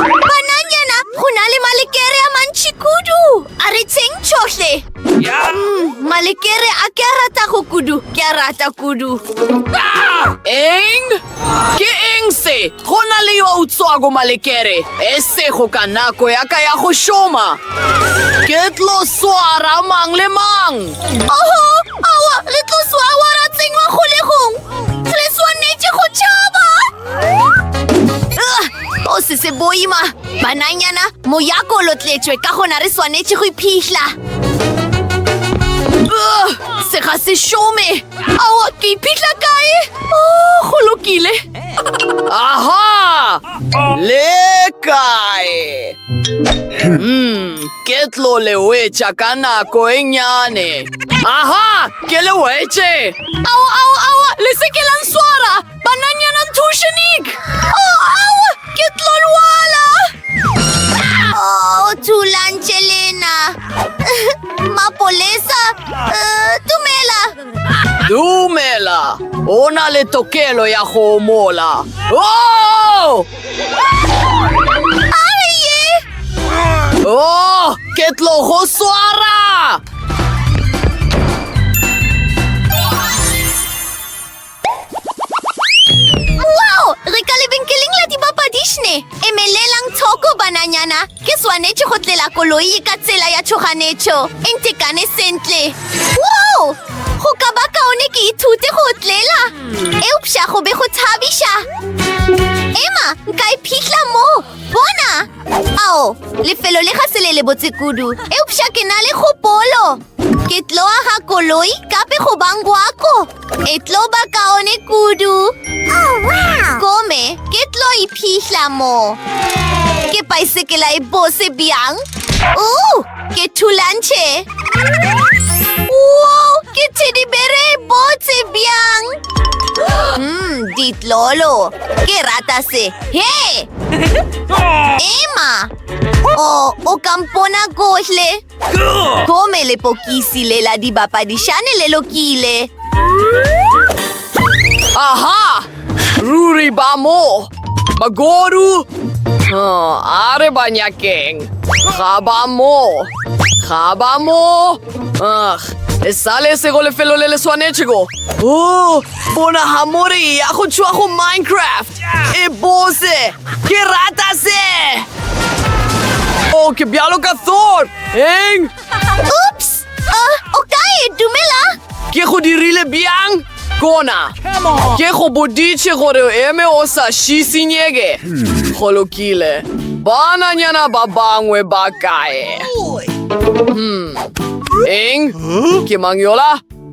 Bananyana, go na le malekere a mantši kudu. A re tsheng tšhohle. Mm, malekere a ke a rata go kudu, ke a rata kudu. Eng? Ke eng se? Go na le yo a utswago malekere, e sego ka nako ya ka ya go šoma. Ke tlo swara mang le mang. Oho, awa, re tlo swawa ra tsenywa kgolegong. Re swanetše go tšhaba. o se se boima bananyana moyako o lotletšwe ka gona re swanetše go iphihla se ga se šome awa ke iphihla kae o go lokile aha le kae mm, ke tlo le wetša ka nako e nyane aha ke le wetše ao ao ao le se ke la nswara Bananyana Tushanik! Oh, au! Ke tlo lwala! Oh, thulantše lena! Mapolesa! Uh, dumela! Dumela! O na le tokelo ya go mola! Oh! Aye! Oh, ke tlo go swara! Wow! Re ka lebenkeleng la dibapadišne! Emelelang tshoko, bananyana! Ke swanetše go tlela koloi ka tsela ya tšhoganetšo. E ntekane sentle. Wow! Go ka ba kaone ke ithute go tlela. Eupša go be go thabiša. Emma, nka e phihla mo. Bona! Ao, lefelo le ga se le lebotse kudu. Eupša ke na le kgopolo. Ke tlo aga koloi kape go bang gwako. E tlo ba kaone kudu. Oh, wow! Kome, ke tlo iphihla mo. Ke paisekela e bose bjang. Uh, ke thulantšhe. Wow, ke thedibere e botse bjang. Mm, ditlolo. Ke rata se. He! Emma! Oh, o kampona kohle. Gomme lepokisi le la dibapadišane le lokile. Aha! Ruri ba mo! Magoru! Oh, a re ba nyakeng. Ga ba mo! Ga ba mo! Ugh! E sale se go lefelo le le swanetšego. Oh! Bona hamori ya go tšhoa go Minecraft. E bose. Ke rata se. Oh, ke bjalo ka Thor. Eng? Oops! Uh, o kae? Dumela? Ke go dirile bjang? Kona. Ke go boditše gore o eme o sa šisinyeke. Hmm. Go lokile. Bananyana ba bangwe ba kae? Hmm. Eng? Ke mang yola?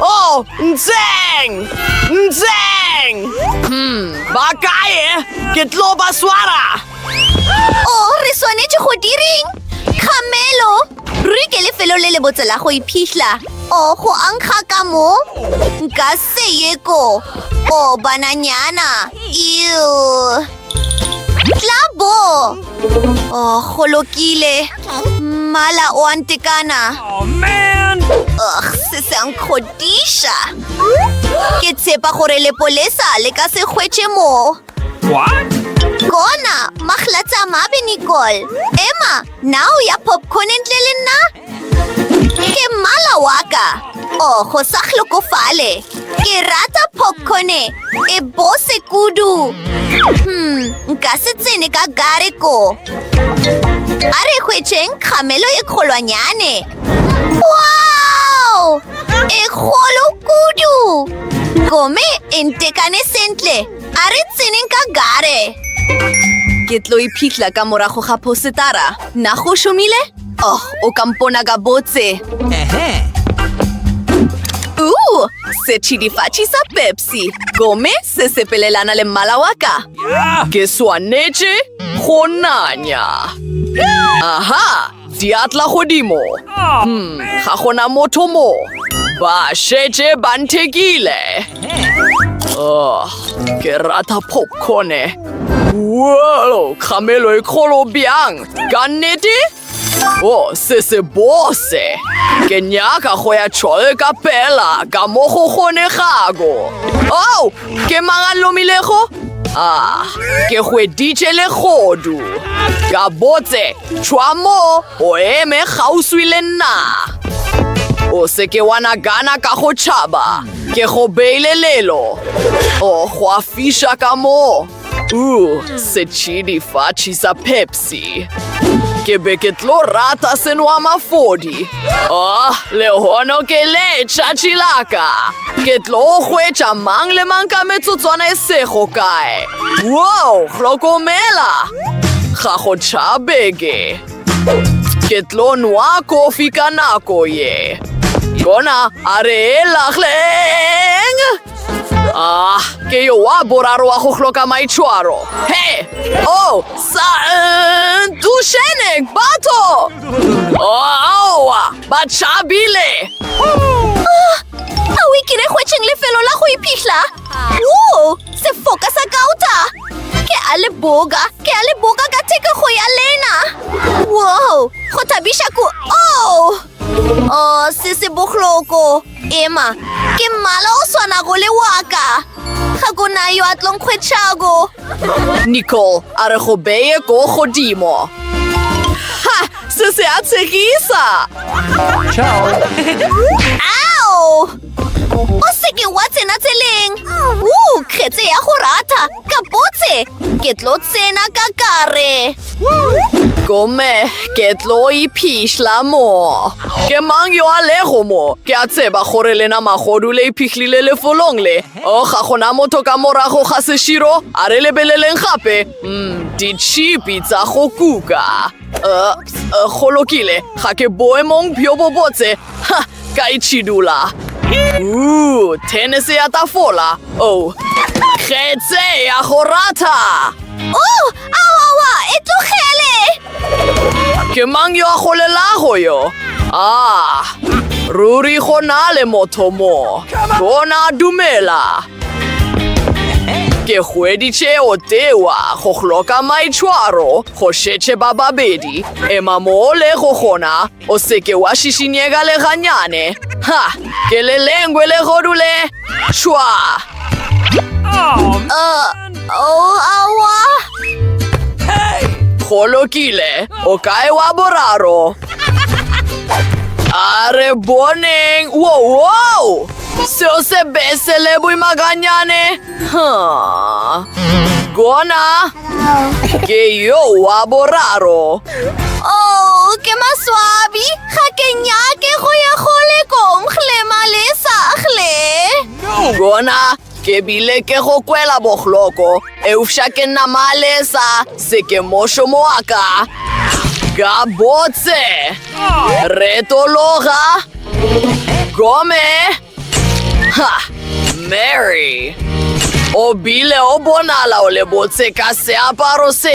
Oh, ntseng! Ntseng! Hmm, ba kae? Ke tlo ba swara! Oh, re swanetše go direng? Kgamelo! Ruri ke lefelo le le botse la go iphihla. Oh, go ankga ka mo? Nka se ye ko. Oh, bananyana! Ew! Tlabo! Oh, go lokile. Mmala o a ntekana. Oh, man! Ugh, se se a nkgodiša. Ke tshepa gore lepolesa le ka se hwetše moo. What? Kona, mahlatsa mabe, Nicole. Emma, na o ya popcorn ntle le nna? Ke mmala wa ka. Oh, go sa hlokofale. Ke rata popcorne e bose kudu. Hmm, nka se tsene ka gare ko. A re hwetšeng kgamelo e kgolwanyane. Wow! E kgolo kudu. Gome e ntekane sentle. A re tseneng ka gare. Ke tlo iphitlha ka morago ga phosetara. Na go šomile? Oh, o ka mpona ka botse. Ehe. Uh, setšhidifatši sa Pepsi. Gome se sepelelana le mmala wa ka. Ke swanetše go nanya. Aha, diatla godimo. Hmm, ga gona motho mo. Ba šetše ba nthekile. Oh, ke rata popcorne. Whoa, kgamelo e kgolo bjang. Ka nnete? O, se se bose. Ke nyaka go ya tšhole ka pela ka mo go kgonegago. O, ke mang a lomilego? Ah, ke hweditše legodu. Ka botse, tšhwa mo o eme kgauswi le nna. O se ke wa nagana ka go tšhaba, ke go beile lelo. O, go a fiša ka moo. Ooh, setšhidi fatšhi sa Pepsi. Ke be ke tlo rata senwa mafodi. Oh, le hono ke le tšatši la ka. Ke tlo hwetša mang le mang ka metsotswana e sego kae. Wow, hlokomela! Ga go tšhabeke. Ke tlo nwa kofi ka nako ye. Yona a re e lagleng. Ah, ke yo wa boraro wa go hloka maitshwaro. He! Oh, sa eh, dušeneng batho! Oh, aowa, ba tšhabile! Ah, a o ikile hwetšeng lefelo la go iphihla? Wo, sefoka sa kauta! Ke a le boga, ke a le boga ka thekego ya lena! Wo, go thabiša ku... Oh! Oh, se se bohloko. Emma, ke mmala o swanago le waka. Ga go na yo a tlonkgwetšhago. Nicole a re go beye ko godimo. Ha! Se se a tshegisa! Ciao! Ao! O seke wa tsena tseleng! Woo, kgetse ya go ratha! Gabotse! Ke tlo tsena ka kare! Gomme ke tlo iphišla mo. Ke mang yo a lego mo? Ke a tseba gore lena magodu le iphihlile lefolong le. O, oh, ga gona motho ka morago ga seširo, a re lebeleleng gape. Mm, ditšhipi tsa go kuka. Uh, uh, go lokile ga ke boemong bjo bo botse ha ka itšhidula uh, tennis ya tafola o oh. kgetse ya go ratha o oh, awawa e tlogele ke mang yo a golelago yo ah ruri go na le motho mo bona dumela ke hweditše o tewa go hloka maitshwaro Go šetše ba babedi. Ema mo o lego gona, o se ke wa šišinyega le ganyane. Ha! Ke le lengwe legodu le! Šwa! Aowa! Go lokile, o kae wa boraro? A re boneng! Wo, wo! Seo se be se le boima ganyane. Gona ke yo wa boraro. Oh, ke maswabi. Ga ke nyake go ya go lekong, hle malesa, hle. Gona ke bile ke go kwela bohloko, eufša ke nna malesa, se ke mošomo wa ka. Gabotse, retologa, gome. Ha! Mary! O bile o bonala o le botse ka seaparo se.